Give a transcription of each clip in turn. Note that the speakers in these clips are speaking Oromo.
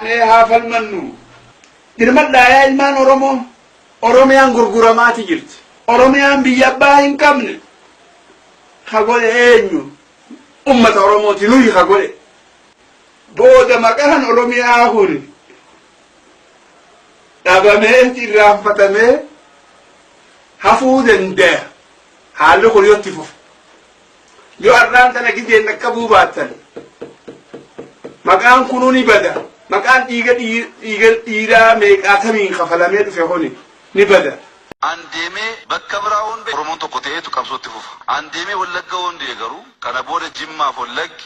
Mee haa falmannu. Dirmadhaa yaa ilmaan Oromoo. Oromiyaan gurguramaati jirti. Oromiyaan biyya abbaa hin qabne. Ka godhe eenyu? Ummata Oromooti nuyi ka godhe. Booda maqaan Oromiyaa kun dhabamee irraanfatamee hafuu danda'a. Haalli kun yoo itti fufe. Yoo har'aan tana gizeen dhaqqabuu baattan maqaan kunuu ni bada. Maqaan dhiiga dhiiga dhiiraa meeqaatamiin kafalamee dhufe kuni ni bada. An deemee bakka biraa hundee Oromoon tokko ta'eetu qabsootti fufa. An deemee Wallagga hundee garuu kana booda Jimmaaf Wallaggi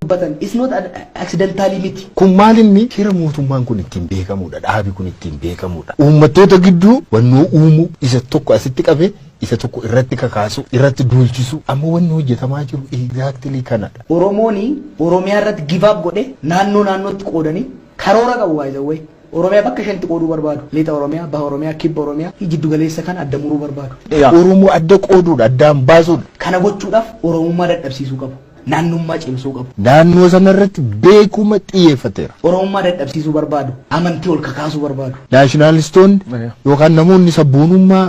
dubbatan is not accidentally miti. Kun maal inni shira mootummaan kun ittiin beekamudha. Dhaabi kun ittiin beekamudha. Uummattoota gidduu wannoo uumuu isa tokko asitti qabee isa tokko irratti kakaasu irratti duulchisu amma wanni hojjetamaa jiru exactly kanadha. Oromooni Oromiyaa irratti give up godhe naannoo naannootti qoodanii karoora qabu by the way. Oromiyaa bakka shanitti qooduu barbaadu. Lixa Oromiyaa, Baha Oromiyaa, Kibba Oromiyaa fi jiddu galeessa kana adda muruu barbaadu. Egaa Oromoo adda qooduudha, addaan baasuudha. Kana gochuudhaaf Oromummaa dadhabsiisuu qabu. Naannummaa cimsuu qabu. Naannoo sanarratti beekuma xiyyeeffateera. Oromummaa dadhabsiisuu barbaadu. Amantii ol kakaasuu barbaadu. Naashinaalistoonni yookaan namoonni sabboonummaa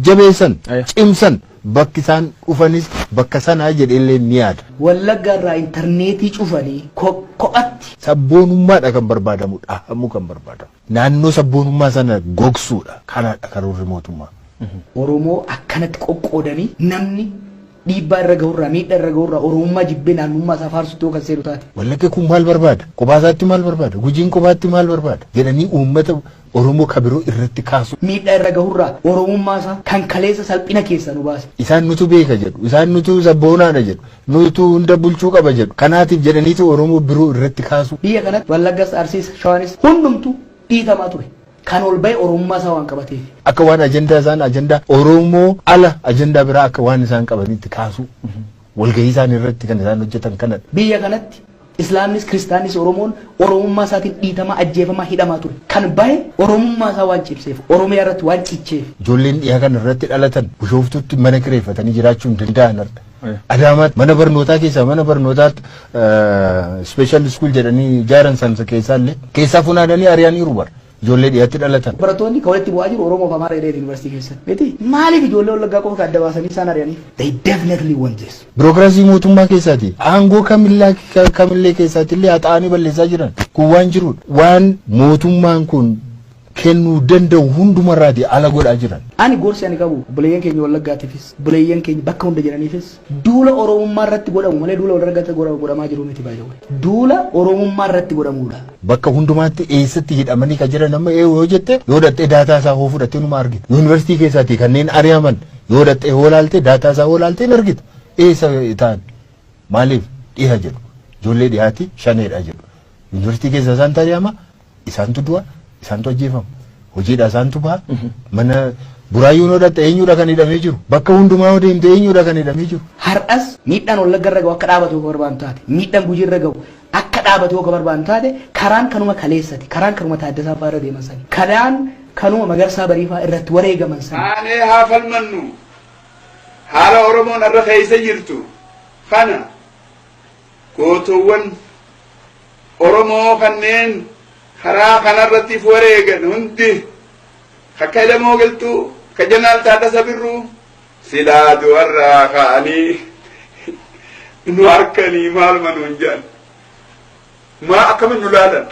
jabeessan, cimsan Bakki isaan dhufanis bakka sana jedhee illee ni yaada. Wallagga irraa interneetii cufanii kophatti. Sabboonummaa dha kan barbaadamu dhahamuu kan barbaadamu. Naannoo sabboonummaa sana gogsuu dha. Kana dha karoorri mootummaa. Oromoo akkanatti qoqqoodanii namni dhiibbaa irra gahu irraa, miidha irra gahu irraa Oromummaa jibbee naannummaa isaa faarsutti yoo kan seenu taate. Wallagga kun maal barbaada? Kophaa isaatti maal barbaada? Gujiin kophaatti maal barbaada? Jedhanii uummata Oromoo ka biroo irratti kaasuun. miidhaa irra gahurraa Oromummaa isaa kan kaleessa salphina keessaa nu baase. Isaan nutu beeka jedhu. Isaan nutu sabboonaadha jedhu. Nutu hunda bulchuu qaba jedhu. Kanaatiif jedhaniitu Oromoo biroo irratti kaasuu. Biyya kanatti Wallaggas, Arsiis, Shawaanis hundumtuu dhiitamaa ture. Kan ol bahe Oromummaa isaa waan qabateef. Akka waan ajandaa isaan ajandaa Oromoo ala ajandaa biraa akka waan isaan qabaniitti kaasuu. Walgahii isaanii irratti kan isaan hojjetan kanadha. Biyya kanatti Islaamnis Kiristaannis Oromoon Oromummaa isaatiin dhiitamaa, ajjeefamaa, hidhamaa ture. Kan bahe Oromummaa isaa waan cimseef, Oromiyaa irratti waan cicheef. Ijoolleen dhiha kana irratti dhalatan Bushooftuutti mana kireeffatanii jiraachuu hin danda'an har'a. Adaamaatti mana barnootaa keessaa mana barnootaa special school jedhanii ijaaran san keessaa illee keessaa funaananii ari'aniiru bara. Ijoollee dhiyatti dhalatan. Barattoonni ka walitti bu'aa jiru Oromoo fi Amaara jedheeti University keessatti. Miti? Maaliif ijoollee Wallaggaa qofa ka adda baasanii isaan ari'aniif? They definitely want this. Birokiraasii mootummaa keessaati. Aangoo kamillaa ka- kamillee keessaatti illee haxaa'anii balleessaa jiran. Kun waan jirudha. Waan mootummaan kun kennuu danda'u hundumarraati ala godhaa jiran. Ani gorsi ani qabu obboleeyyan keenya Wallaggaatiifis, obboleeyyan keenya bakka hunda jiraniifis Duula Oromummaa irratti godhamu malee duula wal irratti godhamaa jiru miti by the way. Duula Oromummaa irratti godhamuudha. Bakka hundumaatti eessatti hidhamanii ka jiran amma eewu yoo jette yoo dhaqxee daataa isaa hoo fudhattee numa argita. Yuunivarsiitii keessaatii kanneen ari'aman yoo dhaqxee hoo laaltee daataa isaa hoo laaltee hin argita. Eessa ta'an? Maaliif dhiha jedhu? Ijoollee dhihaati shaneedha jedhu. Yuunivarsiitii keessa isaantu ari'ama Isaantu du'a, isaantu ajjeefama. Hojiidhaa isaantu baha. Mana buraayyuun yoo dhaqxe eenyuudha kan hidhamee jiru? Bakka hundumaa yoo deemte eenyuudha kan hidhamee jiru? Har'as miidhaan Wallagga irra gahu akka dhaabatu yoo ka barbaadnu taate, miidhaan Gujii irra gahu akka dhaabatu yoo ka barbaadnu taate, karaan kanuma kaleessati, karaan kanuma Taaddasaa fa'aa irra deeman sani, karaan kanuma Magarsaa Barii fa'aa irratti wareegaman sani. Kaanee haa falmannu. Haala Oromoon har'a keessa jirtu kana gootoowwan Oromoo kanneen karaa kanarrattiif wareegan hundi akka Elemoo Qilxuu, akka Jeneraal Taaddasa Birruu silaa du'arraa ka'anii nu arkanii maaluma nuun jedhan. Maa akkamitti nu laalan?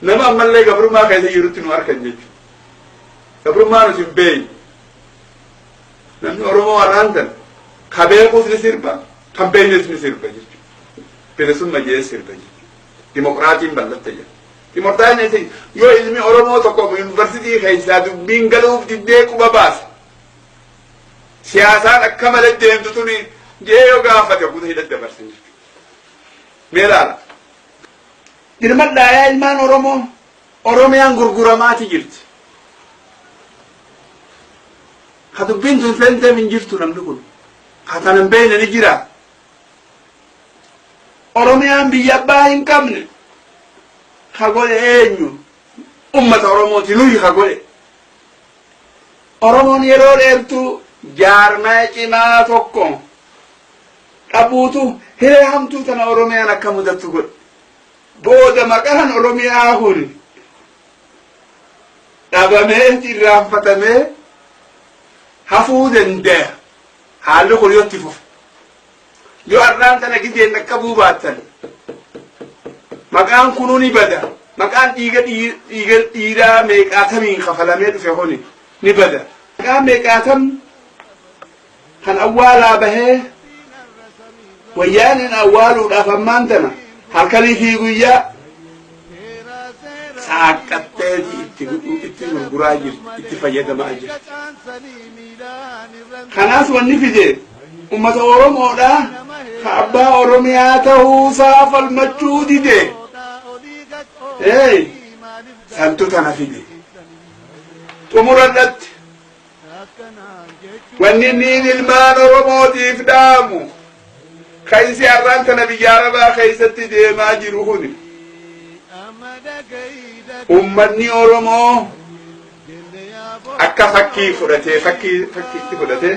Nama ammallee gabrummaa keessa jirutti nu arkan jechuudha. Gabrummaa nuti hin beekne. Namni Oromoo har'aan tan ka beekuus ni sirba kan beeknes ni sirba jechuudha. Bilisumma jee sirba jechuudha. Dimokiraatiin ballatte jedha. Dimokiraatiin yoo ilmi Oromoo tokko yuunivarsiitii keessaa dubbiin galuuf diddee quba baase. Siyaasaan akka malee deemtu tuni jee yoo gaafate guutuu hidha dabarsan jechuudha. Mee ilaala. Dirmadhaa yaa ilmaan Oromoo Oromiyaan gurguramaati jirti. Ka dubbiin tun seenteef hin jirtu namni kun. Ka tana hin beekne ni jira. Oromiyaan biyya abbaa hin qabne ka godhe eenyu? Ummata Oromooti nuyi ka godhe. Oromoon yeroo dheertuu jaarmaya cimaa tokko dhabuutu hiree hamtuu tana Oromiyaan akka mudattu godhe. Booda maqaan Oromiyaa kun dhabamee irraanfatamee hafuu dandaya. Haalli kun yoo itti fufe. Yoo har'aan tana gideen dhaqqabuu baattan maqaan kunuu ni bada. Maqaan dhiiga dhiiga dhiiraa meeqaatamiin kafalamee dhufe kuni ni bada. Maqaan meeqaatam kan awwaalaa bahee wayyaaneen awwaaluudhaaf ammaan tana halkanii fi guyyaa saaqqatteeti itti gudhuu itti gurguraa jirti itti fayyadamaa jirti. Kanaas wanni fide uummata Oromoodhaa ka abbaa Oromiyaa ta'uusaa falmachuu dide. Ee santu tana fide. Xumura irratti Wanni niin ilmaan Oromootiif dhaamu kan isi har'aan tana biyya Arabaa keessatti deemaa jiru kuni. Ummanni Oromoo akka fakkii fudhatee fakkii fakkiitti fudhatee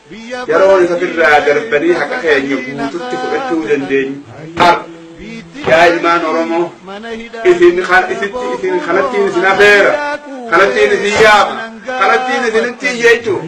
Yeroo nuti ofirraa darbanii haqa keenya guututti fudhachuu dandeenyu har'a. Yaa ilmaan Oromoo, isin kan isitti isin kanattiin isin afeera, kanattiin isin yaama, kanattiin isinitti iyya jechuudha.